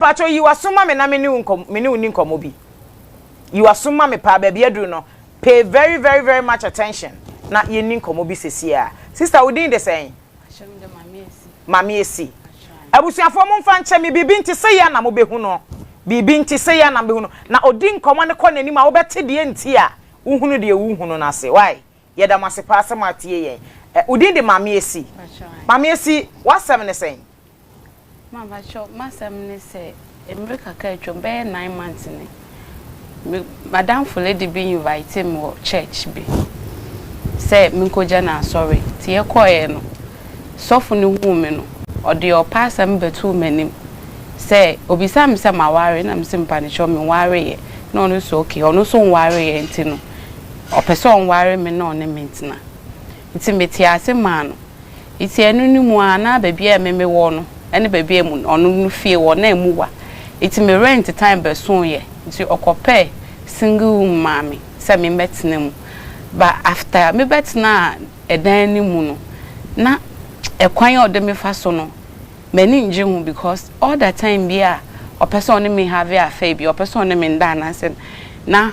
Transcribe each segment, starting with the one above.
Pakyɛw yi w'aso ma me na me ne wo nkɔm me ne wo nni nkɔmmɔ bi. Yi w'aso ma me paa, baabi aduru no, pay very very very much attention na yɛnni nkɔmmɔ bi sesieaa. Sista, wo din de sɛn? Ahyɛm de Maame Asi. Maame Asi. Ahyɛm. Abusuafoɔ momfa nkyɛ me, biribi nti sei a na mobɛhu no. Biribi nti sei a na mobɛhu no. Na ɔdi nkɔmmɔ no kɔ n'anim a, wobɛte deɛ nti a wohunu deɛ wohunu no ase. Why? Yɛda mo ase paa sɛ moatie yɛn. Ɛ, wo din de Maame Esi. Mpakyɛw ae. Maame Esi, w'asɛm ne sɛn? Ma, mpakyɛw, m'asɛm ne sɛ, mmere kakra a atwam, bɛyɛ nine months ni, me, m'adamfo lady bi invitee me wɔ church bi sɛ menkogya no asɔre. Nti yɛkɔeɛ no, sɔfo no huu me no, ɔde ɔpɛ asɛm bɛtoo m'anim sɛ, obisaa me sɛ maware? Ɛna mese, Mpanekyɛw, menwareeɛ. Ɛna ɔno nso se, Okay, ɔno nso nwareeɛ nti no, ɔpɛ sɛ ɔnware me na ɔne me ntena. Ntsi metsee ase maa no. Ntsi ɛno no mu ara na beebi a eme mewɔ no ne beebi a emu ɔno no fie wɔ na emu wa. Ntsi me rent time bɛsooeɛ ntsi ɔkɔpɛɛ single room maa me sɛ me mbɛtsena mu. Ba after me bɛtsenaa ɛdan no mu no na ɛkwan a ɔde me fa so no m'ani nngye ho because all the time biara ɔpɛ sɛ ɔne me have affair bi, ɔpɛ sɛ ɔne me nda anaa sɛ na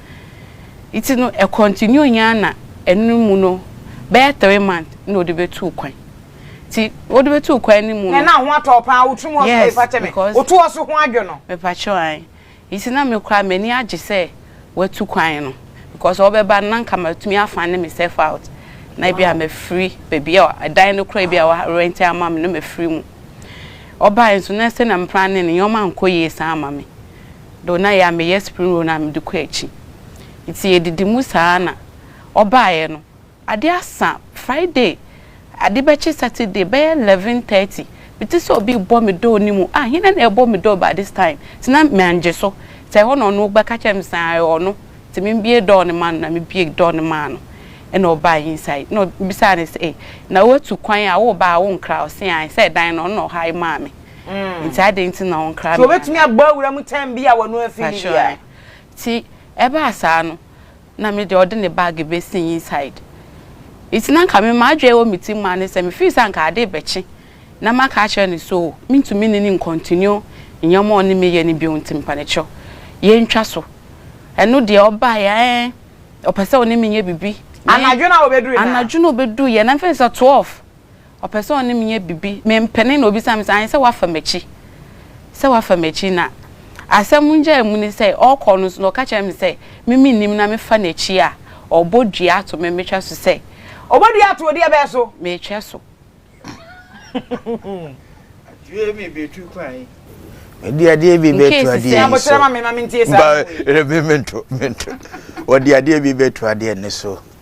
Ntsi no ɛ continued nye ara na ɛno mu no bɛyɛ three month na ɔde bɛtuu kwan. Ntsi ɔde bɛtuu kwan no mu no. Nana ho atɔ wo paa wo trim hɔ so fakyɛ me woto ɔso ho adwo no. Mepakyɛw ae. Ntsi na me koraa m'ani agye sɛ watu kwan no because ɔbɛba no na nka matumi a fund meself out na ebi a mafiri baabi a ɛdan no koraa ebi a wa rent ama me no mafiri mu. Ɔbae nso na sɛnea me plane no nneɛma ankɔ yie saa amma me. do na yɛ a meyɛ spring roll no a mede kɔ akyi ntsi yedidi mu saa na ɔbaeɛ no ade asa Friday ade bɛkye Saturday bɛyɛ eleven thirty mete sɛ obi rebɔ me door no mu ah hena na ɛrebɔ me door by this time ntsi na mangye so ntsi ɛhɔ na ɔno bɛka kyerɛɛ me sɛ ɛyɛ ɔno ntsi membue door no ma no na mebue door no maa no na ɔbae inside na ɔbisaa no sɛ ei na woatu kwan a woreba a wonkra ɔse ae sɛ dan no ɔno na ɔhae maa me. nti adɛn nti na wɔn kra. nti wɔbɛtumi abɔ awura mu tɛm bi a wɔn afi ne bi a. nti ɛbaa saa no na me deɛ ɔde ne bag bɛsi inside nti na nka me ma adwene wɔ me ti mu a ne sɛ me feel sɛ nka ade bɛkye na ma ka akyerɛ ne so me ntumi ne ne nkontinio nneɛma a ɔne me yɛ ne bio nti mpanekyɛw yɛn ntwa so ɛno deɛ ɔbaa yɛ ɛɛ ɔpɛ sɛ ɔne me nyɛ bibi anadwo na ɔbɛduru yɛ anadwo na ɔbɛduru yɛ na mfɛn sɛ 12. Ɔpɛ sɛ ɔne me yɛ biribi, mempene na ɔbisa me sɛ, ae sɛ woafa m'akyi? Sɛ woafa m'akyi? Na asɛm nnyae mu ne sɛ, ɔrekɔ no nso na ɔka kyerɛ me sɛ, me mennim na mefa n'akyi a, ɔbɔ dua ato me, metwa so sɛ. Ɔbɔ dua ato wo deɛ bɛn so? Metwa so. Due me bɛtu kwan yi. Mede adeɛ bi bɛtu adeɛ yi so. Abokyerɛ ma me ma mentie saa. Mpa, me mento, mento. Wɔde adeɛ bi bɛtu adeɛ ne so.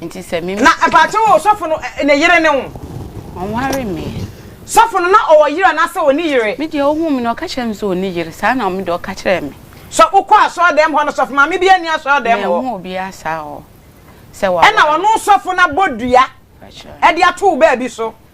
Nti sɛ me. Na mpakyɛw o sɔfo no ne yere ne wo. Ɔnware me. Sɔfo no na ɔwɔ yere anaasɛ ɔni yere. Me deɛ ɔhuu me no ɔka kyerɛɛ me sɛ ɔni yere saa na me deɛ ɔka kyerɛɛ me. Sɛ wokɔ asɔre dɛm hɔ no sɔfo maame biara nni asɔre dɛm hɔ. Manhu obiara saa hɔ sɛ waware. Ɛna ɔno sɔfo no abɔ dua ɛde ato wo baabi so.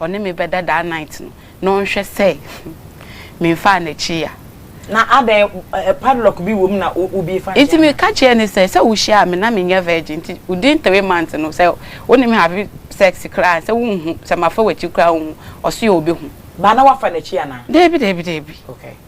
Ɔne me bɛda daa night no na ɔnhwɛ sɛ menfaa n'akyi ya. Na adɛn eh padlock bi wom na wo bi fa Nti me ka kyerɛɛ no sɛ, sɛ wo hyiaa me na me nyɛ virgin nti within three months no sɛ wo ne me have sex koraa ansɛ wo nhu, sɛ mafa w'akyi koraa wo nhu, ɔse ɔbɛhu. Ba na wafa n'akyi anaa? Daabi daabi daabi. Okay.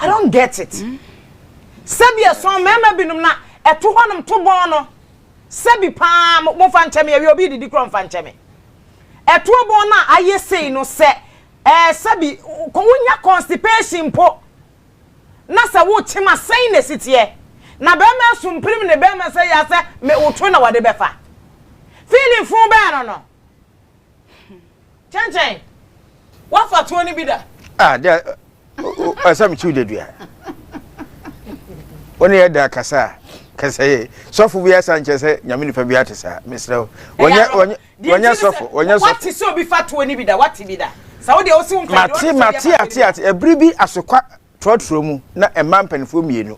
I don't get it. Sɛbi ɛsɔn mmarima binom na ɛto hɔnom to bɔn no. Sɛbi paa mo mo fa nkyɛ me awia obi didi korɔ nfa nkyɛ me. Ɛtoɔ bɔn no a ayɛ sei no sɛ ɛɛ sɛbi kɔ wonya constipation mpo na sɛ wokyem a sɛn na ɛsi teɛ. Na barima asu mpirim ne barima sɛ yɛ a sɛ me wotwe na wɔde bɛfa. Feeling fuu bɛɛ no no. Kyɛnkyɛn, woafa tuo no bi da? Ah, deɛ ɛsɛ mekyi wo dadua. Wo ne yɛ da kasa a, kasa yɛ. Sɔfo bi asa nkyɛ sɛ nyame nipa bi ate saa, mesrɛ wo. Wɔnyɛ sɔfo, wɔnyɛ sɔfo. Wate sɛ obi fa tuo no bi da, wate bi da. Sa wo deɛ wo se wo mpa. Mate, mate, ate, ate. Ɛbiri bi asokwa. trɔtrɔ mu na mmaa mpanimfoɔ mmienu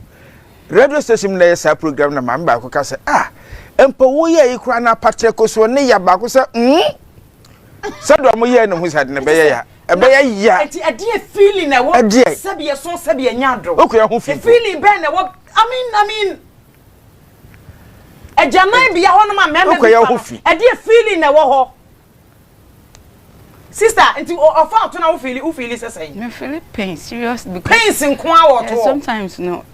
radio station mu na ɛyɛ saa program na maame baako ka sɛ ah mpo wo yɛ yi koraa na apatrɛ ko soɔ ne ya baako sɛ mm sɛdeɛ ɔmo yɛ ne ho sɛ ade na ɛbɛyɛ ya ɛbɛyɛ ya ɛti ɛdeɛ feeling na ɛwɔ ɛdeɛ sɛdeɛ so sɛdeɛ nya adoro okun ɛho fi feeling bɛn na ɛwɔ i mean i mean ɛgyanan bia hɔ nom a mɛmɛ bi fa ɛdeɛ feeling na ɛwɔ hɔ. Sister, nti ɔfa ɔto na wo feel wo feel sɛ sɛn? Me feel pain serious because pains nko a wɔ to. Sometimes no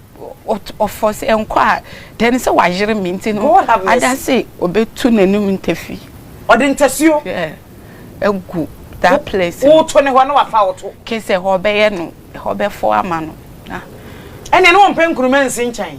ɔfɔ sɛ nkɔ a then sɛ wayere me nti no ada se obetu n'anum ntafi. Ɔde ntasuo. Yeah. Egu that place. Wo to ne hɔ na wafa wo to. Ke sɛ hɔ bɛyɛ no hɔ bɛfɔ ama no. Ɛnna ne wɔn pɛ nkuruma nsi nkyɛn.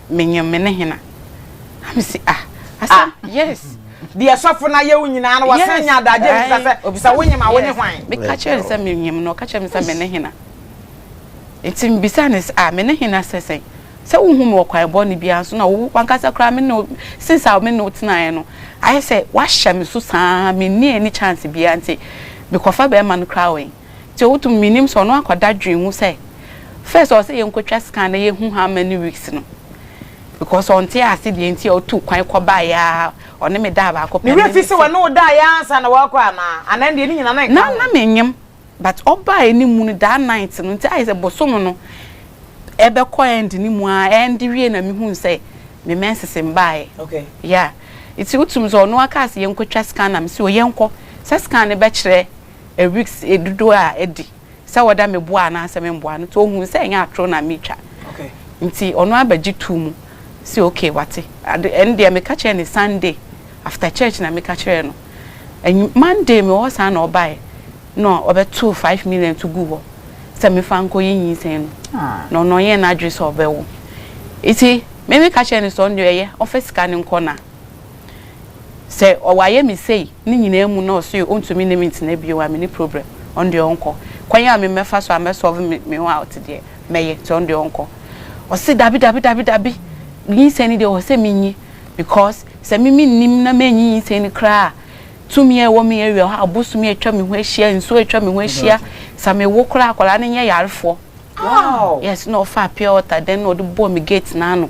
Menye me ne hena? Na me se ah asɛm yes. Deɛ sɔfo no ayɛ wo nyinaa no wasan nya adagye bisa sɛ obisa wo nyem a wo ne hwan? Me ka kyerɛ no sɛ me nyem no ɔka kyerɛ me sɛ me ne hena? Nti me bisa no sɛ ah me ne hena sɛ sɛn? Sɛ wo hu me wɔ kwan bɔne biara so na wo wankasa koraa me ne wo since a me ne wo tenaeɛ no ayɛ sɛ wahyɛ me so saa me nni any chance biara nti me kɔfa bɛɛma no koraa wɛn? Ntsi otum minyim sɛ ɔno akɔ dadwen mu sɛ first ɔwɔ sɛ yenkotwa scan na yehu how many weeks no because ɔnntse ase deɛ ntsi a otuu kwan kɔbaeɛ ara ɔne me daa baako pɛ Ne werɛ fi sɛ ɔne wo daeɛ ara ansa na wakɔ anaa? Anaa ɛndeɛ ne nyina na ɛnka ho? Na na mennyim but ɔbaeɛ no mu no that night no ntsi ayɛ sɛ bosoom no ɛbɛkɔ end no mu ara ɛnde wiei na mehuu sɛ me menses mmbaeɛ yeah ntsi otum sɛ ɔno akaa sɛ yenkotwa scan na mese o yɛnkɔ sɛ scan no bɛkyerɛ weeks dodoɔ a adi sɛ wɔda me boa anaasɛ me mboa no nti ɔhuu sɛ ɛnyɛ atoro na me twa nti ɔno ara bɛgye too mu sɛ okay wate ade ɛno deɛ meka kyerɛɛ no Sunday after church na meka kyerɛɛ no anwu Monday mewɔ hɔ saa na ɔbaeɛ na ɔbɛtoo five million to guu hɔ sɛ mefa nkɔ yi nyinsɛn no na ɔno ɔnyɛɛ n'adwene sɛ ɔbɛwo nti me meka kyerɛɛ no sɛ ɔno deɛ ɔyɛ ɔmfa sika no nkɔ na. Sɛ ɔayɛ me sei ne nyinaa mu na ɔse ɔntumi ne me ntena bio a, mene problem. Ɔno deɛ ɔnkɔ. Kwan a memmɛfa so ammɛ solve me me ho out deɛ, mɛyɛ nti ɔno deɛ ɔnkɔ. Ɔse dabi dabi dabi dabi, nyinsɛn no deɛ ɔwɔ sɛ menyi because sɛ me mennim na mannyi nyinsɛn no koraa a, tumi a ɛwɔ me area hɔ a, abosom atwa me ho ahyia, nsuo atwa me ho ahyia, sɛ mewo koraa a, akwadaa no nyɛ yarefoɔ. Yes, na ɔfaa pure water then na ɔde bɔɔ me gate no ano.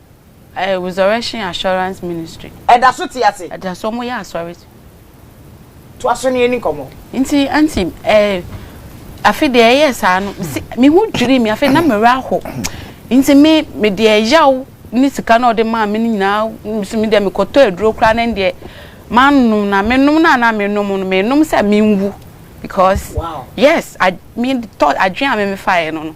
Ɛyɛ Resurrection Assurance Ministry. Ɛda so te ase. Ɛda so, wɔyɛ asɔre. Toa so ne yɛn ni nkɔmmɔ. Nti anti ɛɛ afe deɛ ɛyɛ saa no mesi me ho dwiri me afe na me werɛ aho nti me me deɛ yaw ne sika na ɔde maa me no nyinaa nso me deɛ mekɔtɔ aduro koraa na deɛ manom na menom na na menom no menom sɛ menwu because yes me thought adwene a me mefaeɛ no no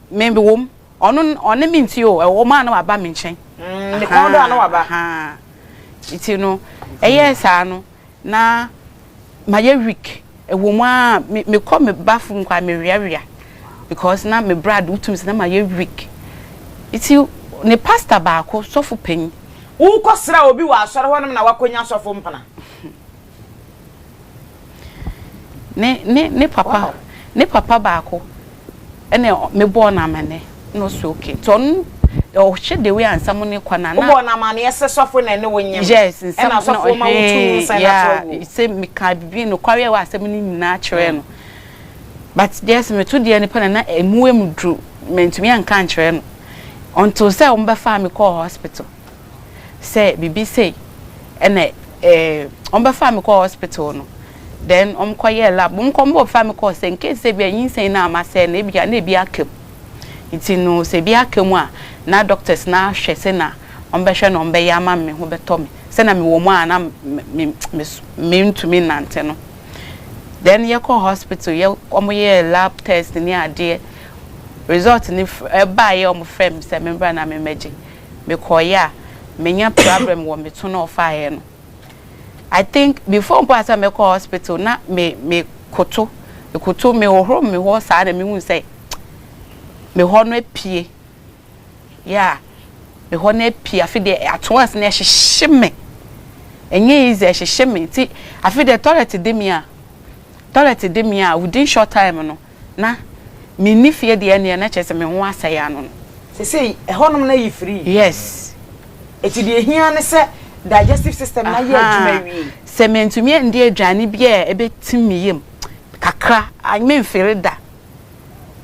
Me me wom. Ɔno ɔne me nti o, ɛwom a na waba me nkyɛn. Mm, ne kɔn do a na waba. Nti no, ɛyɛɛ saa no, na mayɛ weak. Ɛwom a me mekɔ me bathroom kɔ a meweawea because na me bra de wotum sɛ na mayɛ weak. Nti ne pastor baako, sɔfo panyin. Wokɔsra obi wɔ asɔre hɔnom na woakɔnya sɔfo mpena? Ne ne ne papa ne papa baako ɛna me bɔɔ no amane na ɔsɛ okay nti ɔno ɔhwɛ the way a nsɛm no kɔ na na. Wobɔɔ no amaneɛ sɛ sɔfo na ɛne wo nyem. Yes nsɛm ɛna sɔfo ma wo tu nsa na kyerɛ wo. Yeah sɛ meka bibi nokware ɛwɔ asɛm no nyinaa kyerɛ no but deɛ sɛ meto deɛ no pɛ na na ɛmu ɛmu duru mentumi anka nkyerɛ no until sɛ wɔn bɛfaa me kɔɔ hospital. sɛ biribi sei ɛna ɛɛ wɔbɛfaa me kɔɔ hospital no then wɔkɔyɛɛ lab wɔn kɔn bɔ fa me kɔɔ sɛ nkesi sɛ bia nyinsɛn no ama sɛ na ebia na ebi aka mu nti no sɛ ebi aka mu a na doctors no ahwɛ sɛ na wɔbɛhwɛ na wɔbɛyɛ ama me ho bɛtɔ me sɛ na me wɔ mu a na me me me ntumi nnante no then yɛkɔɔ hospital yɛ wɔyɛɛ lab test ne adeɛ result no ɛbaeɛ wɔfrɛ me sɛ membra na memmɛgye mekɔeɛ a manya prabrɛm wɔ me to no ɔfaeɛ no I think before mpo a sɛ mɛkɔ hospital na me me koto ekoto me hohoro me hɔ saa na mehu sɛ me hɔ no apue yeah me hɔ no apue afe deɛ ato ase na ɛhyehye me ɛnyɛ easy ɛhyehye me nti afe deɛ toilet de me a toilet de me a within short time no na menni fie deɛ ɛneɛ na kyerɛ sɛ me ho asɛe ano no. Sesei ɛhɔnom no ayi firii. Yes. Eti deɛ ɛhia ara ne sɛ digestive system no ayɛ adwuma awie. Ahaa, sɛ mentumi ɛndi aduane bi a ɛbɛtim me yam kakra a, menfili da.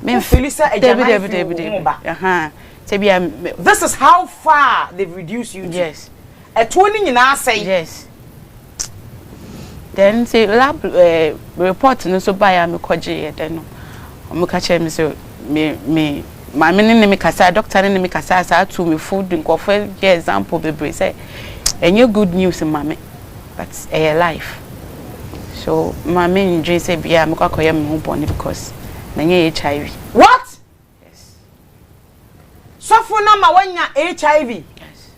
Wofili sɛ agyanan firi wo ho ba? Ahaa, sɛ bia me. This is how far they've reduced you to. Yes. Ɛtoɔ no nyinaa asɛe. Yes. Then nti lab eh, report no so bae a mekɔ gyeeɛ dɛ no, ɔmo ka kyerɛɛ me sɛ me me maame no ne me kasae, doctor no ne me kasae saa tuu me fo de nkorɔfo yɛɛ example bebree sɛ ɛnyɛ good news mma me but ɛyɛ life so mma me ndwen sɛ bia mɛkɔ akɔyɛ me ho bɔne because manya HIV. What? Yes. Sɔfo no ama wanya HIV. Yes.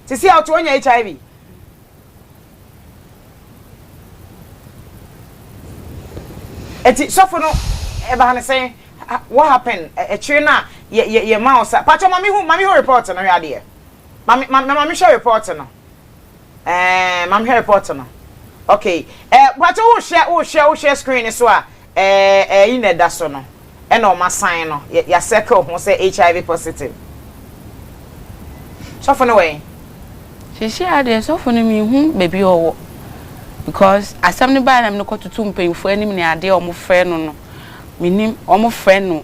Sisi a ɔte wanya HIV. Eti sɔfo no ɛbaa ne sɛn what happen ɛkyerɛ na yɛ yɛ yɛ ma ɔsa patro ma mi hu ma mi hu report no hwɛ adeɛ ma mi ma ma mi hwɛ report no. Ɛɛɛ ma menhwɛ report no. Okay ɛɛ mpakyɛw wohwɛ wohwɛ wohwɛ screen no so a ɛɛ ɛyi na ɛda so no ɛna wɔn asan no yɛ yɛ circle ho sɛ HIV positive. Sɔfo no wɔ he? Seesei ara deɛ sɔfo no menhu baabi a ɔwɔ because asɛm no baeɛ na mede kɔtoto mpanyimfoɔ anim ne adeɛ a wɔfrɛ no no mennim wɔfrɛ no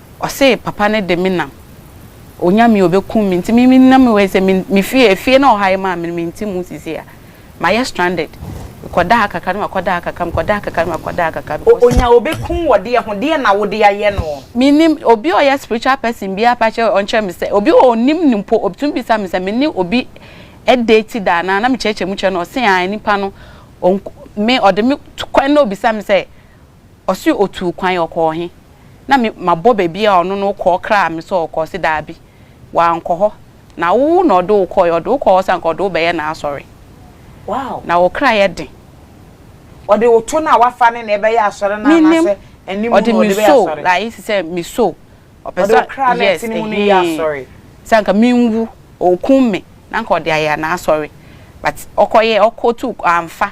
Ɔse papa no de me nam. Onya me a obekum me nti me me nam me wɔ sɛ me me fie efie na ɔha yi maa me no me nte mu sisi a ma yɛ stranded me kɔ daa kakra na ma kɔ daa kakra me kɔ daa kakra na ma kɔ daa kakra because. Onya obekum wɔ deɛ ho deɛ na wo de ayɛ no. Me nim obi a ɔyɛ spiritual person biaa pa kyɛ ɔnkyerɛ me sɛ obi wɔ onim no mpo obetumi bisa me sɛ me ne obi date da anaa na me kyerɛkyerɛ mu kyerɛ no ɔse ae nipa no ɔnku me ɔde me to kwan na obisa me sɛ Ɔse otuu kwan, ɔkɔɔ he? Na me mabɔ baabi a ɔno no wokɔɔ kraa me sɛ ɔɔkɔ, ɔse daabi, wankɔ hɔ, na wo na ɔde wo kɔɔe, ɔde wo kɔɔ hɔ sɛ anka ɔde wo bɛyɛ n'asɔre, na wo kra yɛ den. Ɔde wo to no a wafa ne na ɛbɛyɛ asɔre no anaasɛ ɛne mu na ɔde bɛyɛ asɔre? Mennim, ɔde me soo, like sɛ me soo, ɔpɛ sɛ, yes, ɛhee, sɛ anka menwu, ɔɔkum me, na anka ɔde ayɛ n'asɔre, but ɔkɔyɛɛ, ɔkɔtuu, amfa.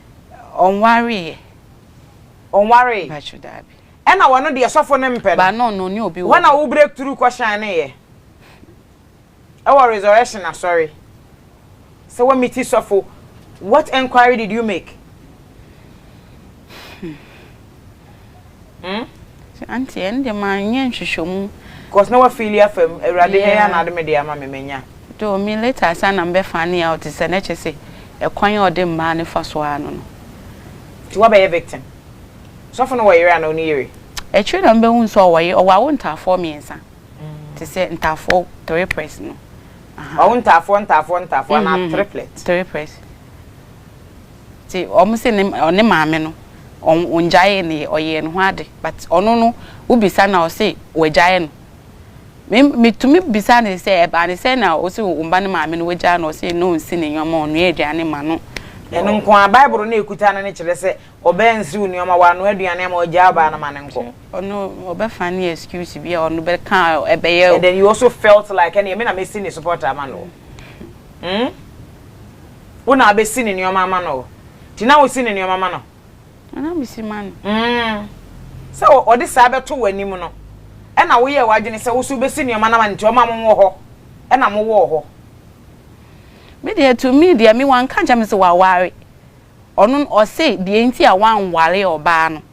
Ɔnwaree ɛ. Ɔnwaree. Mpakyɛw daabi. Ɛna wɔ no deɛ sɔfo no mpɛ no. Ba no no ɔne obi wɔ hɔ. Hɔ na wo break through kɔ shine yɛ. Ɛwɔ resurrection asɔre. Sɛ wɔ meeti sɔfo what enquiry did you make? Hmm? Sɛ auntie ɛn deɛ ma nyɛ nhwehwɛmu. Cause na wa feeli afam, awurade hɛ ya na ade me deɛ ama me, manya. Though me later ansa na me bɛ fane out sɛ na kyɛ sɛ ɛkwan a ɔde mmaa no fa so ara no no. Nti wa bɛ yɛ victim? Sɔfo no wɔ yere anaa ɔni yere? Akyire na me bɛ hun sɛ ɔwɔ yere, ɔwɔ awo ntaafoɔ mmiɛnsa, te sɛ ntaafoɔ triplets no, aha. Wawo ntaafoɔ ntaafoɔ ntaafoɔ anaa triplets? Triplets. Nti ɔmo se ne ɔne maame no ɔngyaee ne yɛ ɔyɛɛ ne ho ade but ɔno no wo bisa no a ɔse wagyae no me metumi bisa no sɛ ɛbaa ne sɛn na ɔse wo mba ne maame no wagyae no ɔse na ɔnsi ne nnoɔma ɔnoa aduane ma no Ɛno nko ara bible no a ɛkuta no no kyerɛ sɛ ɔbaa nsiw nnoɔma wanoa aduane ama ɔgyaa ɔbaa no ma no nkɔ. Ɔno ɔbɛfa ne excuse bi a ɔno bɛka a ɛbɛyɛ o. And then you also felt like ɛneɛ me na mɛsi ne support ama no o hmm. Wo na abɛsi ne nneɛma ama no o. Nti na wosi ne nneɛma ma no? Na mesi ma no. Mm. Sɛ ɔde saa bɛto w'anim no, ɛna woyɛɛ w'adwene sɛ wo nso wobɛsi nneɛma no ama no nti ɔma mo wɔ hɔ ɛna mo wɔɔ hɔ. Me deɛ to me deɛ me wanka nkyerɛ me sɛ waware. Ɔno ɔse deɛ nti a wanware ɔbaa no.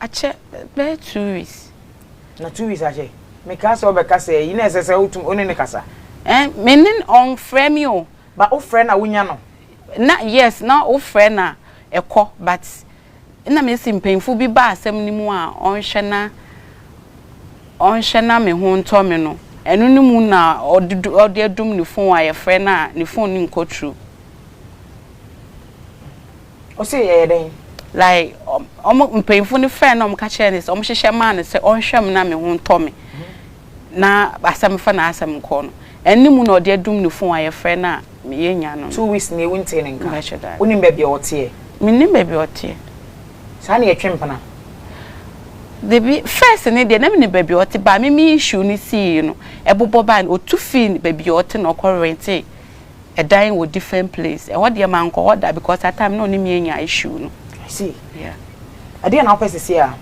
Akyɛ bɛyɛ two weeks. Na two weeks akyɛ mekaa sɛ ɔbɛka sɛ yi na ɛsɛ sɛ wotum ɔne ne kasa. Ɛn me ne ɔnfrɛ me o. Ba wofrɛ na wonya no. Na yes na wofrɛ na ɛkɔ but na mesi mpanyinfo bi ba asɛm no mu a ɔnhwɛ na ɔnhwɛ na me ho ntɔ me no ɛno no mu na ɔde adum ne phone a yɛfrɛ no a ne phone no nkɔ through. Ɔse yɛyɛ dɛn? Like ɔmo mpanyinfo no frɛɛ no na ɔmo ka kyerɛɛ no sɛ ɔmo hyehyɛ maa no sɛ ɔnhwɛ me na me ho ntɔ me na asɛm fa n'asɛm nkɔ no ɛne mu na ɔde adum ne fon a yɛfrɛ no a meyɛ nya no no. Two weeks nie wontee ne nka? Mepakyɛ daabi. Wonim baabi a ɔteɛ? Mennim baabi a ɔteɛ. Saa na yɛtwe mpena? Dabi, first no deɛ na menim baabi a ɔte but me me issue no sii no ɛbobɔ bae no ɔtu fii baabi a ɔte na ɔkɔ rentee. ɛdan wɔ different place ɛhɔ deɛ ma nkɔ hɔ da because at time na ɔne mi anya issue no. I see. Yeah. Ɛdeɛ na wopɛ sisi a?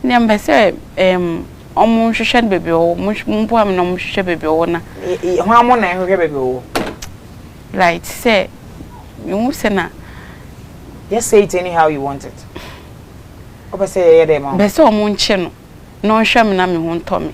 Nea mpɛ sɛ ɛɛm ɔmo nhwehwɛ no baabi ɔwɔ mo mboa mi na ɔmo nhwehwɛ baabi ɔwɔ na. Hɔn ara mo na ɛhwehwɛ baabi ɔwɔ. Like te sɛ mi hu sɛ na. Just say it anyhow you want it. Wopɛ sɛ yɛyɛ dɛ ma wo? Mpɛ sɛ ɔmo nkye no na ɔnhwɛ mi na mi ho ntɔ mi.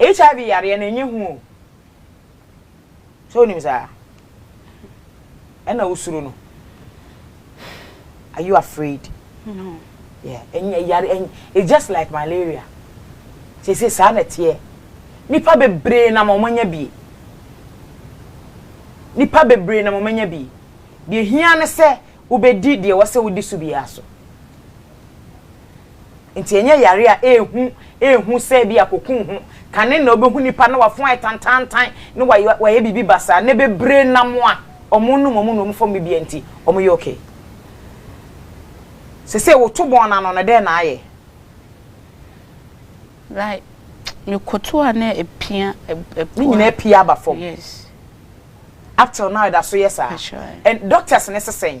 HIV yareɛ no ɛnyɛ hu o. Sɛ wonim saa? Ɛna wosuro no. Are you afraid? No. Yeah, ɛnyɛ yare ɛnyɛ it's just like malaria. Sese saa na ɛteɛ. Nipa bebree nam wɔn anya bie. Nipa bebree nam wɔn anya bie. Deɛ hia ne sɛ wobɛdi deɛ wɔsɛ wodi so biara so. Nti ɛnyɛ yare a ɛrehu ɛrehu sɛ bi a koku ho kane na wobɛhu nipa na wafon ayɛ tantaantan na wayɛ wayɛ biribi basaa nnɛ bebree nam a wɔnom wɔn nnuom fam biribiara nti wɔyɛ okay. Sesei woto bɔn no ano no dɛn na ayɛ? Like mekoto a na ɛpia ɛpo a. Ne nyinaa apia aba fam. Yes. Up till now ɛda so yɛ saa. That's right. And doctors no se sɛn?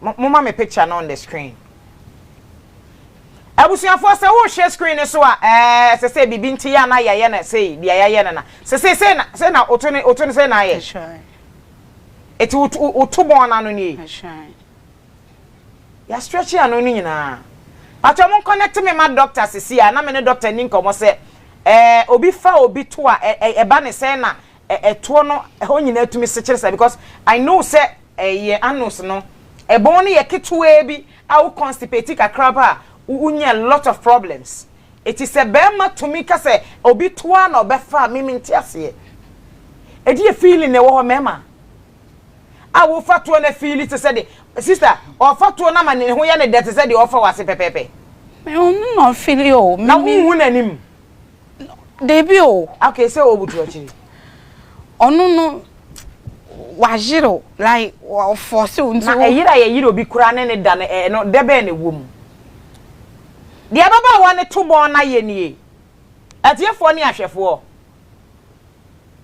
Mo moma me picture no on the screen. Abusuafoɔ sɛ wohwɛ screen no so a ɛɛ sɛ sɛ biribi nti yɛ ana yɛayɛ no sei deɛ yɛayɛ no na sɛ sei sei na sei na woto no woto no sei na ayɛ. Eti woto woto bɔn no ano nie. Yɛ stretch ano no nyinaa. Patro mo connect me ma doctor sisi a na me ne doctor ni nkɔmɔ sɛ ɛɛ obi fa obi to a ɛba ne sɛ na ɛ ɛtoɔ no hɔ nyinaa tumi sekyere saa because I know sɛ ɛ yɛ anus no ɛbɔn no yɛ ketewaa bi a wo constipate kakra pɛ a wo wo nya a lot of problems eti sɛ bɛɛma tumi ka sɛ obi toa na ɔbɛfa a me me nte aseɛ ɛdeɛ feeling na ɛwɔ hɔ mɛɛma a wo fa toɔ na feeli te sɛ de sister ɔfa toɔ na ma ne ho yɛ ne dɛ te sɛ deɛ ɔfa wɔ ase pɛpɛɛpɛ. Me ho no na ɔfeeli o. Na wo nhu n'anim. Dabi o! Okay sɛ ɔbu to akyiri. Ɔno no wayere o like ɔforce o nti o. Na ɛyere a yɛyere obi koraa ne ne da no ɛ ɛno dɛ bɛn na ɛwɔ mu? Deɛ ababaawa no to bɔn no ayɛ nie, atiefoɔ ne ahwɛfoɔ.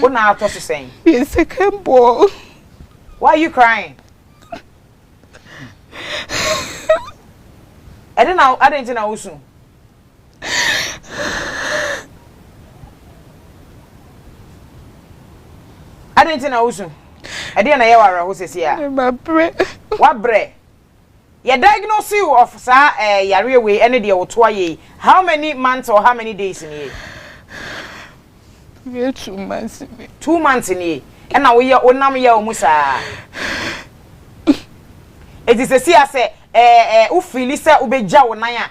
Wo na atɔ so sɛn? Me yɛ second born. Why are you crying? Ɛde na adɛn nti na wosu? Adɛn nti na wosu? Ɛdeɛ na ɛyɛ wo awerɛho sɛsi a? Mabrɛ. Wabrɛ? Yɛ diagnose you of saa eh yareɛ wei ɛne deɛ wo toa yei how many months or how many days nie. Bɛyɛ two months nie. Two months nie ɛna wo yɛ wo nam yaw mu saa eti sɛsi a sɛ eh eh wo feeli sɛ wo bɛ gya wo nan a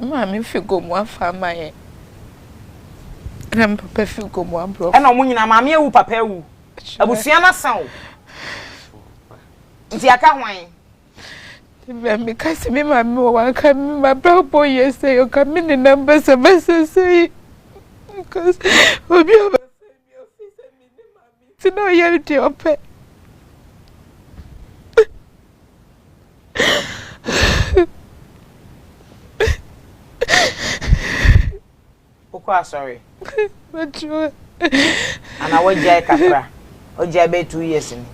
M'maame fi Gomoa fa ama yɛn, ɛna me papa fi Gomoa borɔfo. Ɛna wɔn nyinaa, maame awu, papa awu. Abusua no asa o. Nti aka hwan? Maame ka sɛ me maame wɔ wanka me mabrabɔ yɛ sɛ ɔka me ne nam basabasa sɛ yi. Because obi a Nti na ɔyɛ deɛ ɔpɛ. Wokɔ asɔre? Mɛtwerɛ. Anaa wagyae kakra? Wagyae bɛyɛ two years ni.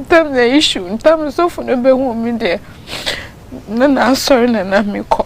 Tam na issue ntam nsɔfo no bɛhu me deɛ na n'asɔre na na mekɔ.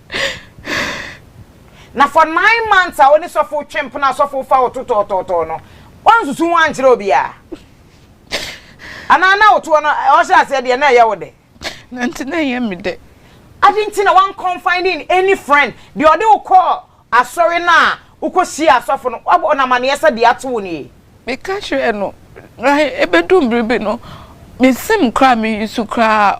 Na for nine months a wo ne sɔfo twe mpono a sɔfo fa wo to tɔɔtɔɔtɔɔ no, woansusu ho ankyerɛ obiara? Anaa na woto hɔ no, ɔhyɛ aseɛ deɛ na ɛyɛ wo dɛ? Na nti na ɛyɛ me dɛ. Adɛn nti na woan confide in any friend? Deɛ ɔde wo kɔɔ asɔre no a wokɔhyiaa asɔfo no, wabɔ no amaneɛ sɛ deɛ ato wo nie? Meka kyerɛɛ no, na ɛbɛduu bere bi no, mensim koraa, mensusu koraa.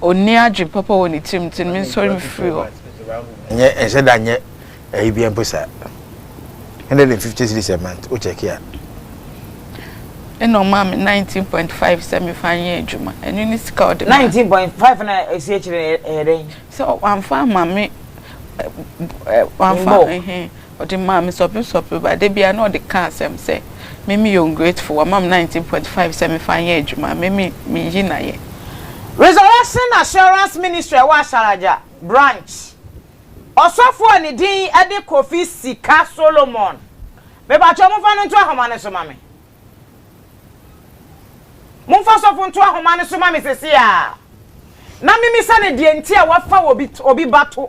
onni adwene papa wɔ ne tirim nti no mensɔre mfiri hɔ. Nyɛ ɛnhyɛ da nyɛ ɛyi bia mpo saa. Hundred and fifty cedis a month wo check a. Ɛna ɔmaa me nineteen point five sɛ mefa nyɛ adwuma ɛno ne sika ɔde ma. Nineteen point five na ɛsi akyire ɛyɛ dɛn. Sɛ wamfa ama me wamfa ɛhɛn. Ɔde maa me sɔpesɔpe ba da biara na ɔde ka asɛm sɛ Mimi yɛ ungrateful, wama me nineteen point five sɛ me fa nyɛ adwuma, Mimi me yi na yɛ. Resurrection Assurance Ministry a ɛwɔ Asharaja Branch ɔsɔfo a ne din de Kofi Sika Solomon. Me pa kyɛw momfa no nto ahoma no so ma me. Momfa sɔfo nto ahoma no so ma me sesei ara na memmisa no deɛ nti a wafa obi ba to.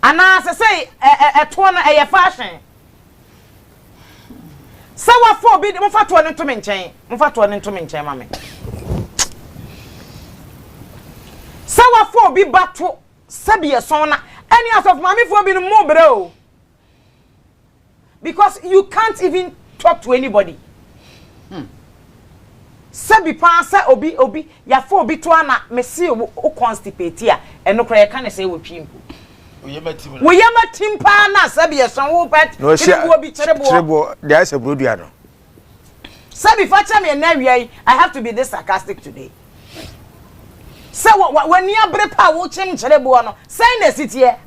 Anaa sesei ɛtoɔ no ɛyɛ fashion. Sɛ wafa obi de, mofa toɔ no nto me nkyɛn. Mofa toɔ no nto me nkyɛn ma me. Sɛ wafa obi ba to sɛdeɛ sɔn na ɛne asɔfo maamefoɔ binom mobrɛ o. because you can't even talk to anybody hmm. sɛbi paa sɛ obi obi yafa obi to ana mese wo constipate a ɛno koraa yɛka ne sɛ wɔtwi mpo woyɛ matim paa na sɛbi ɛsɔn wo pɛt kyereboɔ bi kyereboɔ deɛ ayɛ sɛ burodua no Sɛbi fakyɛ me ɛnɛ awia yi I have to be this sarcastic today Sɛ w'ani abere pa a wokyem kyerɛ boɔ no sɛn na ɛsi teɛ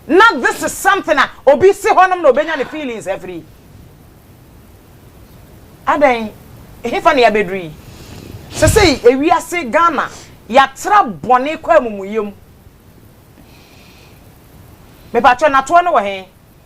Na this is something a obi si hɔnom na obɛnya ne feelings afiri Adɛn hefa na yɛabɛduru yi Sɛsei ewiase Ghana yɛatra bɔne kɔ amumuyɛ mu Mepakyɛ natoɔ no wɔ he?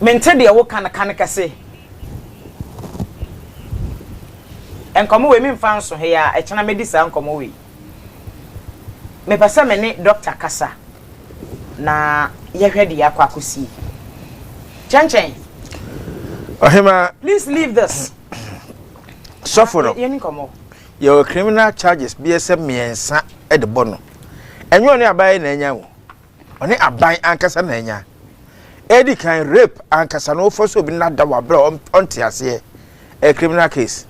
Mente deɛ woka no ka no kɛse. Nkɔmmɔ wei memfa nso he a, ɛkyena mɛdi saa nkɔmmɔ wei. Mepɛ sɛ me ne dɔkta kasa na yɛhwɛ deɛ akɔ akɔsie. Kyɛnkyɛn. Ɔhemaa. Please leave this. Sɔfo no. Yɛni nkɔmmɔ. yɛwɔ criminal charges bɛyɛ sɛ mmiɛnsa de bɔ no. Ɛnyɛ ɔne aban na anya o, ɔne aban ankasa na anya. Edi kan, rape ankasa no wofɔ sɛ obi no ada wɔ bere a ɔnte aseɛ, ɛyɛ criminal case.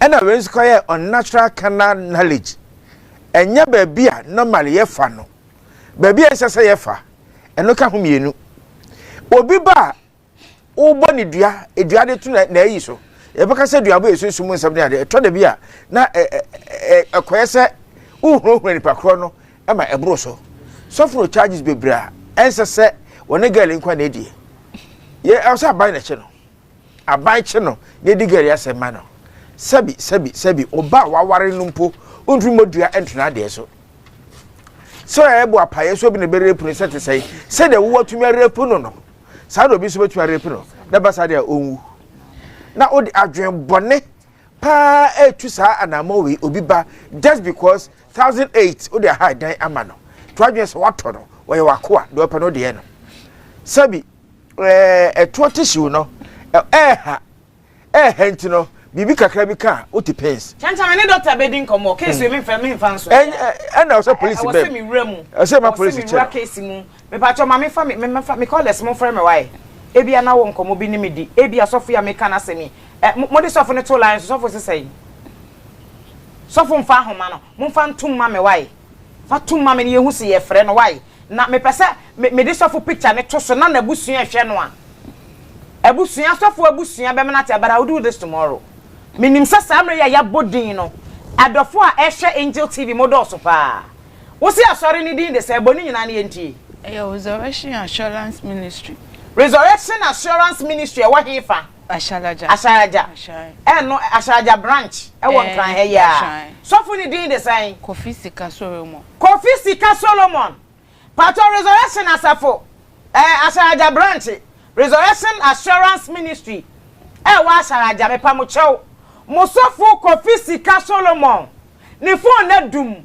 Ɛna wei nso kɔyɛ unnatural carnal knowledge, ɛnyɛ baabi a normally yɛfa no, baabi a ɛnsɛ sɛ yɛfa, ɛno ka ho mmienu. Obi ba a wobɔ ne dua dua de to n'ayi so yɛbɛka sɛ duabɔ yɛ sunsum nsɛm ne adeɛ ɛtɔ da bi a na ɛkɔyɛ sɛ wohurahura nipa korɔ no ma ɛboro so sɔfo no charges bebree a ɛnsɛ sɛ wɔne girl nkwa na ɛdie yɛ ɛwɔ sɛ aban na ɛkye no aban kye no na ɛdi girl asɛm ma no sɛbi sɛbi sɛbi ɔba a waware no mpo wontumi mmɔ dua ntena adeɛ so sɛ ɛbɔ apaeɛ so bi na ɛbɛrɛpu no sɛ te sɛe sɛdeɛ wowatumi arɛpu no no saa na obi nso bɛtumi arepe no na ɛba saa deɛ a ɔnwu na wode adwen bɔne paa ɛtu saa anammɔ wei obi ba just because thousand eight wode aha dan ama no to adwen sɛ watɔ no wɔyɛ wakoa deɛ ɔpɛ no deɛ no sɛbi ɛtoɔ te hyew no ɛɛha ɛɛhɛ nti no biribi kakra bi ka a wote pains. Kyɛnkyɛn me ne dɔkta bɛdi nkɔmmɔ case wei memfa memfa nso ɛnyɛ ɛna ɔsɛ polisi bɛm ɛwɔ sɛ mewura mu ɛsɛ ma polisi kyɛ mewura case mu mepatwɔ ma mefa me mefa me callers mo mfrɛ me wae ebi ana wɔ nkɔmmɔ bi ne me di ebi asɔfo yi a meka no asɛm yi ɛ mo de sɔfo no to line so sɔfo sesɛn sɔfo mfa ahoma no momfa ntom ma me wae. Fa to ma me na yɛhu se yɛfrɛ no wai na mepɛ sɛ me mede sɔfo picture no to so na nabusua hwɛ no a abusua sɔfo abusua bɛmene ate but I will do this tomorrow menim sɛ saa mmerɛ yi a yɛabɔ din no adɔfo a ɛhwɛ Angel TV mo dɔɔso paa wo se asɔre no din de sɛn bɔ ne nyinaa na yɛntie. Ɛyɛ Resurrection Assurance Ministry. Resurrection Assurance Ministry ɛwɔ hefa? Ahyɛlagya. Ahyɛlagya. Ahyɛn. Ɛno Ahyɛlagya branch ɛwɔ Nkran ha yi ara. Sɔfo no din de sɛn? Kofi Sika Solomon. Kofi Sika Solomon. Paatɔ Resurrection Asafo ɛɛ Ahyɛlagya branch Resurrection Assurance Ministry ɛwɔ Ahyɛlagya mepa mo kyɛw. Mo sɔfo Kofi Sika Solomon ne phone no adum.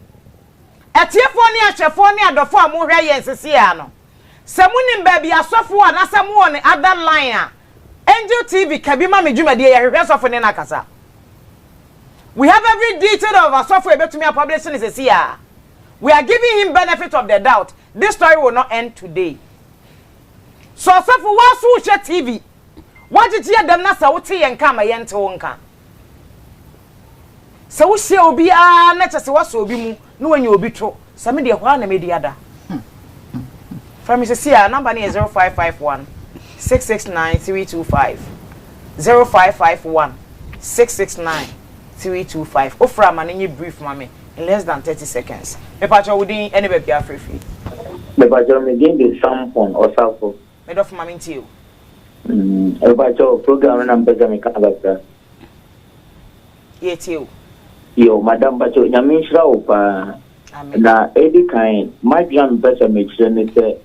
Atiefoɔ ne ahwɛfoɔ ne adɔfoɔ a mo hwɛ yɛn sesei ara no. Sɛ mo nim baabi asɔfo wɔ anasɛ mo wɔ ne other line a Angel TV ka bi ma me dwumadie yɛ hwehwɛ sɔfo ne no akasa. We have every detail of asɔfo a yɛbɛtumi a publish no sɛsi a. We are giving him benefit of the doubt, this story will not end today. Sɛ ɔsɔfo woa so wo hwɛ TV, woagyegye yɛ dɛm na sɛ wo te yɛn nka a ma yɛn te wo nka. Sɛ wohyia obi ara na kyɛ sɛ woasɔ obi mu na wanya obi to, sɛ me deɛ hɔ ara na mɛdi ada. Frɛ me seesei a, namba no yɛ 0551 669 325. 0551 669 325. Wofrɛ a ma no nyɛ brief ma me, in less than thirty seconds. Mepakyɛw wo din ne baabi a woafrɛ firi. Mepakyɛw, me din de Sampon Osafo. Me dɔfo ma me ntie o. Mpakyɛ o program no na mpɛ sɛ meka kakra. Yɛtie o. Yo madam mpakyɛ nyame nhyira wo paa. Amen. Na edi kan madwene a mepɛ sɛ mekyerɛ ne sɛ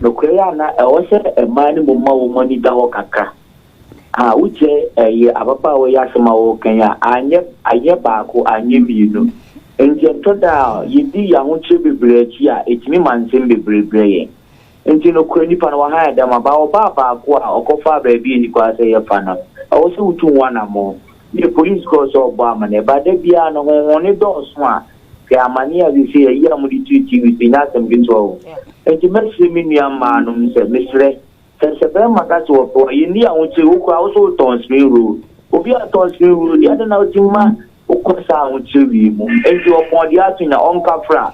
nokorɛ yɛ ana ɛwɔ sɛ mmaa no mmom ma wɔn ani da hɔ kakra. A wokyɛ ɛyɛ ababaawa yi asɛm a wɔka yi a anyɛ anyɛ baako anyɛ mmienu. Nti ɛtɔ da a yɛdi yɛn ahokyerɛ bebree akyi a ɛtumi ma nsɛm bebree brɛ yɛn. Ntsi nokwar nyimpa no wɔahaa dɛm aba a ɔbaa baako a ɔkɔfaa beebi a nyimpa sɛ yɛfa no a, ɔwɔ sɛ wotu ho anamɔn. Nna police kɔr so ɔbɔ amandzɛɛ. Ebaa da biara no hɔn hɔn no dɔɔ sõ a, hwɛ amandzɛɛ a sesei ayi a wɔdze tue TV so, nnyɛ asɛm ketsewa o. Ntsi mɛserɛ me nua mbaa no sɛ, meserɛ, sɛ sɛ bɛrima ka sɛ ɔpɛ wo a, yɛnnii ahokyere, wo koraa wo so wotɔn spring roll. Obi a ɔtɔn spring roll yi, adɛn na otse mu ma wokɔ saa ahokyere wei mu? Ntsi ɔpɔn deɛ ato nya, ɔnkafra.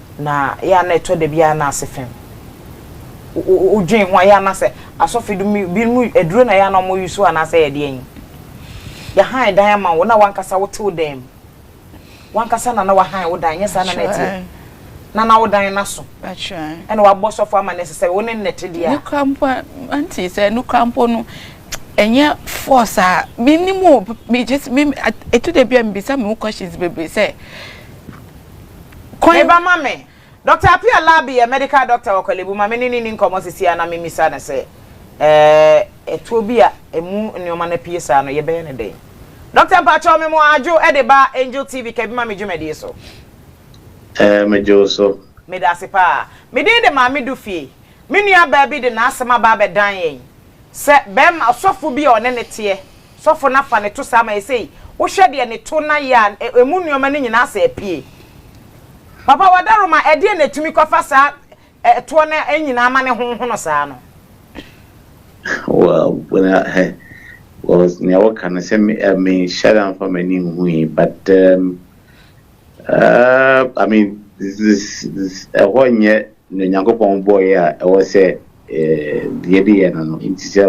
Na ɛyɛ a na ɛtɔ da bi a na ase fem. Wodwen ho a, ɛyɛ a na sɛ asɔfo dum binom aduro na ɛyɛ a na wɔn use anaasɛ ɛyɛ deɛ yi. Yɛhan dan ama wo na w'ankasa wote wo dan mu. W'ankasa na na w'ahan wo dan, nyɛ saa na na ɛteɛ. Na na wo dan no aso. Ɛna w'abɔ sɔfo amanneɛ sɛ sɛ wo ne nnɛ te deɛ a. Nokura mpo a, auntie sɛ nokura mpo no, ɛnyɛ force a, me nim o, me just, me, ɛtɔ da bi a me bisa me ho questions bebree sɛ. Kwan. Meba ma me. Doctor Appiah Labi yɛ medical doctor wɔ Korle-Bu. Ma me ne no nni nkɔmmɔ seesei ara na memmisa no sɛ, eh, tuo bi a ɛmu nneɛma no apue saa no, yɛbɛyɛ no dɛn? Doctor, mpakyɛw, mema wo adwo de ba Angel TV, ka bi ma me dwumadie so. Eh, megye wo so. Meda ase paa. Me din de Maame Dufie. Me nuabaa bi de n'asɛm aba abɛdan yɛn sɛ barima, ɔsɔfo bi a ɔne no teɛ Sɔfo no afa no to saa ma yɛ sei wohwɛ deɛ no to na yɛ a ɛmu nnoɔma no nyinaa sɛ apue. Papa Wadaroma ɛdeɛn na ɛtumi kɔfa saa ɛtoɔ no nyinaa ma no honhono saa no? Well na hɛ was nea woka no sɛ me uh, me nhyɛ da mfa m'ani nhui but um, uh, I mean this, this, this, ɛhɔ nyɛ Nea Onyankopɔn bɔe a ɛwɔ sɛ yɛde yɛ no no nti, sɛ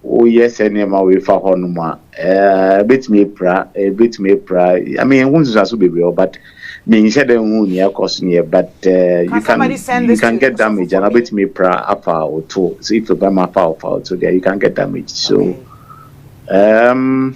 woyɛ saa nneɛma wei fa hɔnom a, ebetumi apira, ebetumi apira. I mean, ehu nsusuaso bebree wɔ, but menhyɛ da nhu nea ɛkɔ so yɛ, but uh, you can you can get damage, and ebetumi apira afa wo to. So if bɛma afa wo fa wo to deɛ, you can get damage. So, um.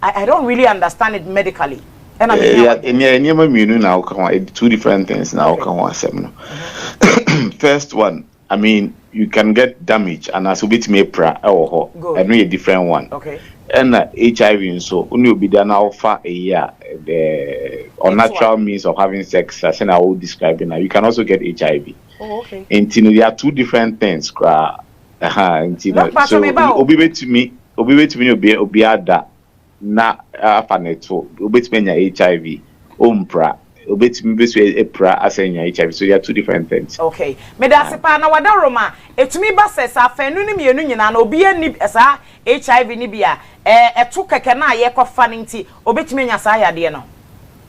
I don't really understand it medically. Ɛna mi hia wɔ. Nea nneɛma mmienu na awoka ho two different things na awoka ho asɛm no. First one, I mean you can get damage and anaasɛ obetumi apira ɛwɔ hɔ. Ɛno yɛ different one. Okay. Ɛna HIV nso, wo ne obi da na awofa eyi a the unnatural means of having sex a sɛ na awo describe na you can also get HIV. Oh, okay. Nti no, they are two different things koraa. Aha, nti no, Mokpa so sɛ meba o. obi betumi, obi betumi ne obi obi ada na afa ne to, obetumi anya HIV, ompira, obetumi bi so apira asan anya HIV, so they are two different things. Okay. Meda ase paa. Na w'adaworoma, ɛtumi ba sɛ sɛ afanu no mmienu nyinaa no obiara nni saa HIV no bi a, ɛɛ ɛto kɛkɛ no a yɛkɔfa no nti obetumi anya saa yadeɛ no?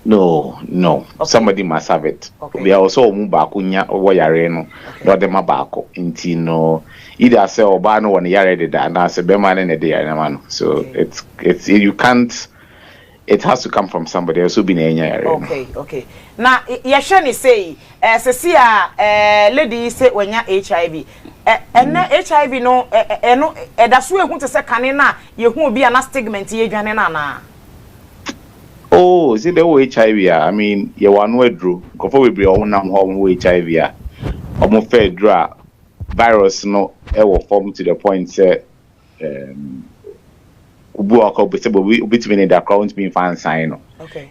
No no somebody must have it obia ɔwɔ sɛ ɔmu baako nya wɔ yaree no na ɔde ma baako nti no either sɛ ɔbaa no wɔ ne yaree deda anaa sɛ bɛmaa no na ɛde yaree no ama no so it it you can't it has to come from somebody ɛwɔ sɛ obi na ɛnya yaree no. Okay okay na yɛhwɛ ne sei ɛɛ sɛsi a ɛɛ lady yi sɛ wanya HIV ɛ ɛnɛ HIV no ɛ ɛno ɛdaso ehu te sɛ kane no a yɛhu obi a na stigment yɛ dwane no anaa. Oh ɔse dɛ wowɔ HIV a, I mean yɛwɔ ano aduro. Nkorɔfoɔ bebree a wɔnam hɔ a wɔwɔ HIV a, wɔfa aduro a virus no wɔ fam to the point sɛ um obi wɔ hɔ koraa sɛ obi obetumi ne da koraa wɔntumi mfa nsan no.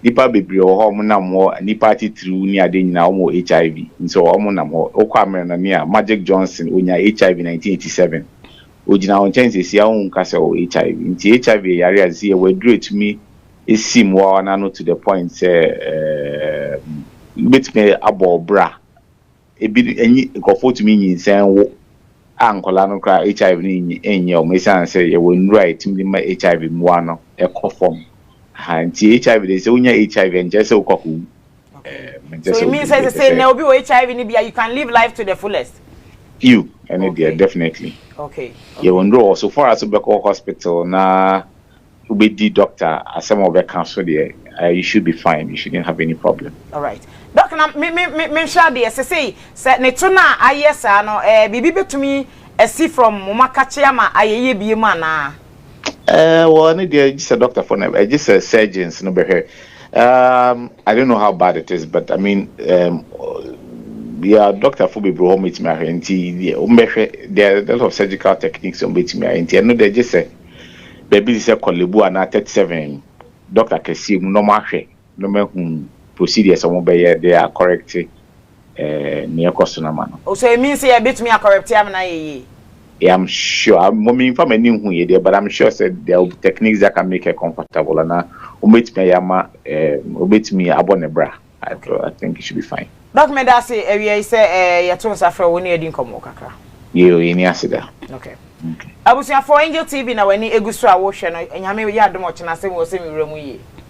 Nnipa bebree wɔ hɔ a wɔnam hɔ, nnipa atitiriw ne ade nyinaa wɔwɔ HIV nso wɔnam hɔ. Wokɔ Amerɛnane a, Magic Johnson onya HIV nineteen eighty seven. ogyina wo nkyɛn sɛsi a wonka sɛ ɔwɔ HIV nti HIV yɛ yare a sɛsi yɛwɔ aduru a ɛtumi si mmoawa no ano to the point sɛ ɛɛm bɛtumi abɔ wo bra ebi ɛnyi nkurɔfoɔ tumi nyinsɛn wo a nkwadaa no koraa HIV no nyi ɛnyɛ wɔn ɛsiane sɛ yɛwɔ nnuro a ɛtumi de ma HIV mmoa no ɛkɔ fam ha nti HIV deɛ sɛ wonya HIV a ɛnkyerɛ sɛ wokɔ akɔwu Eh, so it means say say na obi wɔ hiv ni bia you can live life to the fullest few ɛne okay. deɛ definitely okay, okay. yɛwɔ nduro wɔ so far as wobɛkɔ hospital na wobɛdi doctor asɛm a wɔbɛka so deɛ uh, you should be fine you shouldn't have any problem all right doc na me me me menhwɛ adeɛ sɛ sei sɛ ne to no a ayɛ saa no eh, biribi bɛtumi asi from mo makakye ama ayɛyɛ bie mu anaa Ɛɛ, well, ɛno deɛ, gye sɛ dɔktafoɔ no, eh, gye sɛ surgeons no bɛhwɛ. Um, I don't know how bad it is, but I mean, um, yeah, dɔktafoɔ bebree wɔ hɔ mɛtumi ahwɛ, nti deɛ wɔbɛhwɛ, there are a lot of surgical techniques a wɔbɛtumi ayɛ, nti ɛno deɛ gye sɛ baabi te sɛ Korle Bu anaa 37 dɔkta kɛseɛ mu na wɔahwɛ no mahu procedures a wɔbɛyɛ de a correct nea ɛkɔ so no ama no. Oh so it means sɛ yɛbɛtumi a correct ama no ayɛ yie? Yeah I'm sure, mmom memfa m'ani nhuiɛ deɛ but I'm sure sɛ there will be techniques that can make her comfortable anaa wɔbɛtumi ayɛ ama wɔbɛtumi abɔ ne bra so I think it should be fine. Doc meda ase awia yi sɛ yɛto nsa frɛ wo wo ne yɛadi nkɔmmɔ kakra. Yoo yɛnni ase da. Okay. Okay. Abusuafoɔ Angel TV na w'ani egu so a wohwɛ no, Nyame yɛ adom ɔkyena asɛm wɔ sɛ me wura mu yie.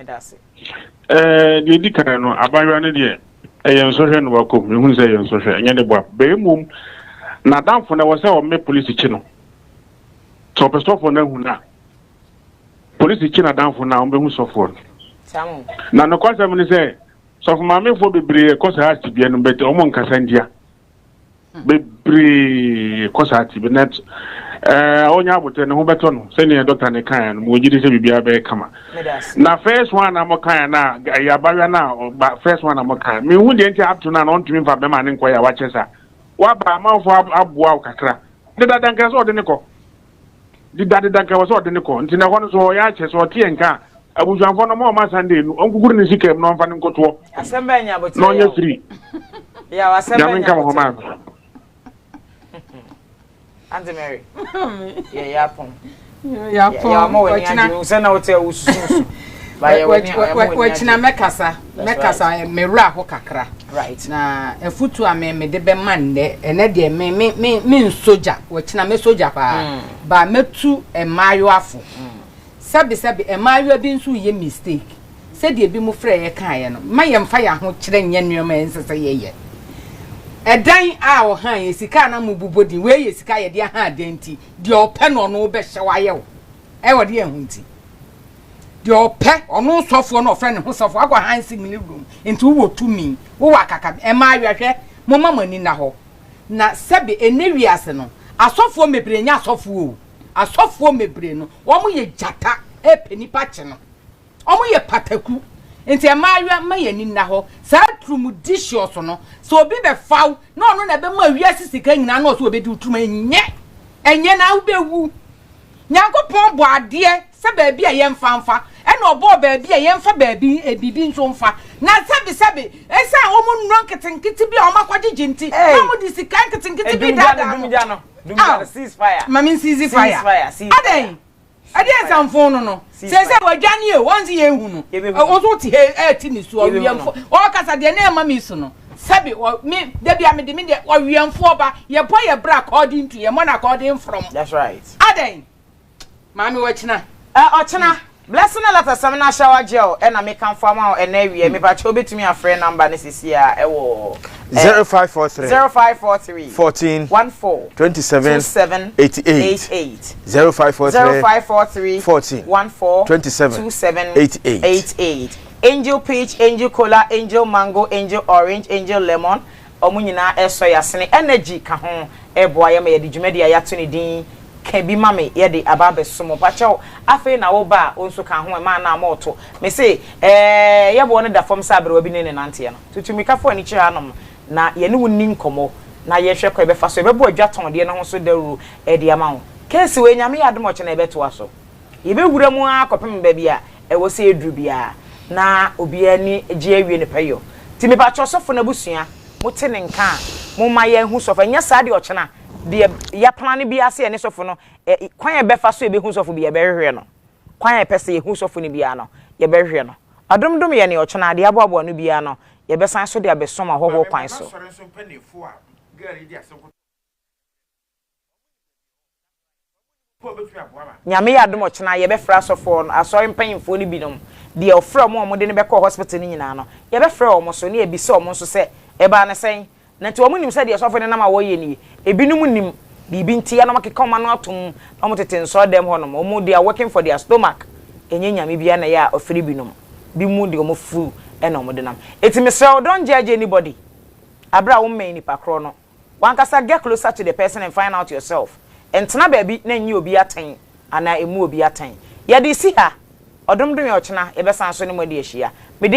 Ɛda ase. Ɛɛ, deɛ ɛdi kan no, abaayewa no deɛ, ɛyɛ nsɔhwɛ na wakɔ mu. Yɛhunu sɛ ɛyɛ nsɔhwɛ, ɛnyɛ ne boa. Bɛyɛ mmom, n'adamfo no, ɛwɔ sɛ ɔmɛ polisi kye no. Sɛ ɔpɛ sɔfoɔ no ahu no a, polisi kye n'adamfo no a, wɔbɛhu sɔfoɔ no. Na nokwasɛm ne sɛ, sɔfo maamefoɔ bebree kɔ saa tebea no mu, but wɔn nkasa ntia. bebree kɔ saa ti bɛnɛ ɛɛ eh, ɔnya abotire ne ho bɛtɔ no sɛnea dɔkta ne kan yɛn no mo gye di sɛ biribiara bɛyɛ kama na first one na mo kan yɛn na ɛyɛ abayewa na ɔba first one na mo kan mi hu deɛ nti apto na ɔntumi nfa bɛma ne nkɔ yɛ a wakyɛ sa waba amanfo aboa wo kakra ne dada nkira sɛ ɔde ne kɔ. dedadeda nka wɔ sɛ ɔde ne kɔ nti na ɛhɔ no so ɔyɛ akyɛ sɛ ɔteɛ nka a abusuafoɔ no ma ɔma Sunday no ɔnkukuru ne sika mu na ɔmfa ne nkotoɔ na ɔnyɛ firi nyame nka mo ho maa me Auntie Mary. Yeah, yeah, pom. Yeah, pom. Yeah, I'm always near you. Send out to us. But yeah, we're near. We're near. We're near. We're near. Mɛkasa me werɛ ho kakra. Right. Na afutu a me mede bɛma nnɛ, ɛnɛ deɛ me me me me nsogya, wɔkyina me sogya paa. Mm. Ba mɛtu mmaayewaafo. Mm. Sɛbesɛbe mmaayewa bi nso yɛ mistake. Sɛdeɛ bi mo frɛ yɛ kaeɛ no, ma yɛmfa yɛn ahokyerɛ nyɛ nneɛma a ɛnsɛ sɛ yɛyɛ. Ɛdan a ɔhan yɛ sika a na mo bobɔ din, wei yɛ sika a yɛde ahan dan nti, deɛ ɔpɛ no ɔno wobɛhyɛ wayɛ wo. Ɛwɔ de ɛho nti. deɛ ɔpɛ ɔno sɔfoɔ no ɔfrɛ ne ho sɔfoɔ akɔ hansi mu ne wom nti wowɔ tumi wowɔ akaka ɛmaa awɛhwɛ moma mo ani nna hɔ na sɛbe ɛnɛ wiase no asɔfoɔ mebire nyɛ asɔfoɔ o asɔfoɔ mebire no wɔn yɛ gyata ɛpɛ nipa kye no wɔn yɛ pataku nti ɛmaa awɛ ma yɛ ani nna hɔ saa turum di hyɛ ɔso no sɛ obi bɛfaw na ɔno na ɛbɛma wiase sika nyinaa na ɔso ɔbɛdi turum ɛnyɛ ɛnyɛ na wobɛwu Nyankopɔn bɔ adeɛ sɛ baabi a yɛmfa mfa, ɛna ɔbɔɔ baabi a yɛmfa baabi biribi nso mfa. Na sɛbesɛbe, esiane wɔn nnuro nketenkete bi a wɔakɔgyegye nti, na wɔde sika nketenkete bi redaadaa mo. Ao, ma mensiizi faya. Adɛn? Ɛdeɛn sɛ mfoo no no? Seesei wadwane o, wɔn se yɛnhu no, wo nso wote ha yi rete ne su, ɔweɛmfoɔ, ɔrekasa deɛ na ɛma me su no, sɛbe me, da bia mede me deɛ, ɔweɛmfoɔ ba, yɛbɔ yɛn bra according to, yɛmmɔ no according from, adɛn, maame wɔkyena. Eh, ɔkyena, Blessing Alatasam na Shower Gel na mekamfo ama wo ɛnnɛ awia yi, mepakyɛ wobɛtumi afrɛ number no seesei ara wɔ. Zero five four three. Zero five four three. Fourteen. One four. Twenty seven. Two seven. Eighty eight. Eight eight. Zero five four three. Zero five four three. Fourteen. One four. Twenty seven. Two seven. Eight eight. Eight eight. Angel peach, angel cola, angel mango, angel orange, angel lemon. Ɔmo nyinaa ɛsɔ yasene. Energy ka ho ɛboa yɛ ma yɛde dwumadi a yato ne din ka bi ma me yɛde aba abɛso mo. Pakyɛw afei na wo ba a wo nso ka ho ɛmaa na ama ɔto. Me se ɛɛ yɛboɔ no da fam sɛ aberewa bi ne ne nanteɛ no. Tutu mmirikafo ani kyerɛ hanom na yɛne wo nni nkɔmmɔ na yɛnhwɛ kwan a yɛbɛfa so yɛbɛbɔ adwa tɔndeɛ no ho so dawuro de ama wo. Keesi wei, Nyame yɛ adom a ɔkyena yɛbɛtoa so. Yɛbɛwura mu ara kɔpem baabi a ɛwɔ sɛ yɛduru biara na obiara ani gye awie ne pɛyɔ. Nti mepa kyɛw sɔfo no abusua, mote ne nka a, momma yɛnhu sɔfo. Anyɛ saa deɛ ɔkyena deɛ yɛaplan no biara sɛ yɛne sɔfo no, ɛ, kwan a yɛbɛfa so yɛbɛhu sɔfo biara yɛbɛhwehwɛ no. Kwan a yɛpɛ sɛ yɛhu sɔfo no biara no, yɛbɛhwehwɛ no. Adom Dom yɛ nea ɔkyɛ na ade aboaboa no biara no yɛbɛsan so de abɛsom ahɔhoɔ kwan so. Nyame yɛ adom ɔkyena yɛbɛfrɛ asɔfoɔ no asɔre mpanyinfoɔ no binom deɛ ɔfrɛ ɔmo a ɔmo de no bɛkɔɔ hospital no nyinaa no yɛbɛfrɛ ɔmo so ne yɛbisa ɔmo nso sɛ ɛbaa no sɛn Na nti wɔn nim sɛ deɛ ɔsɔfo no nam a wɔyɛ nie. Ebinom nim biribi nti yɛ na wɔn akeka wɔn ano atom na wɔn tete nsɔre dɛm hɔ nom. Wɔn they are working for their stomach ɛnyɛ Nyame biara na ɛyɛ a ɔfiri binom bi mu de wɔn afuo ɛna wɔn de nam. Ɛti mesrɛ wo don't judge anybody aberɛ a wo mmɛn nipa korɔ no. Wankasa get closer to the person and find out yourself. Ntena baabi na nyi obi atɛn anaa mmu obi atɛn. Yɛde resi ha ɔdom dom yɛ ɔkyena yɛbɛsan so ne mo adi ahyia. Mede.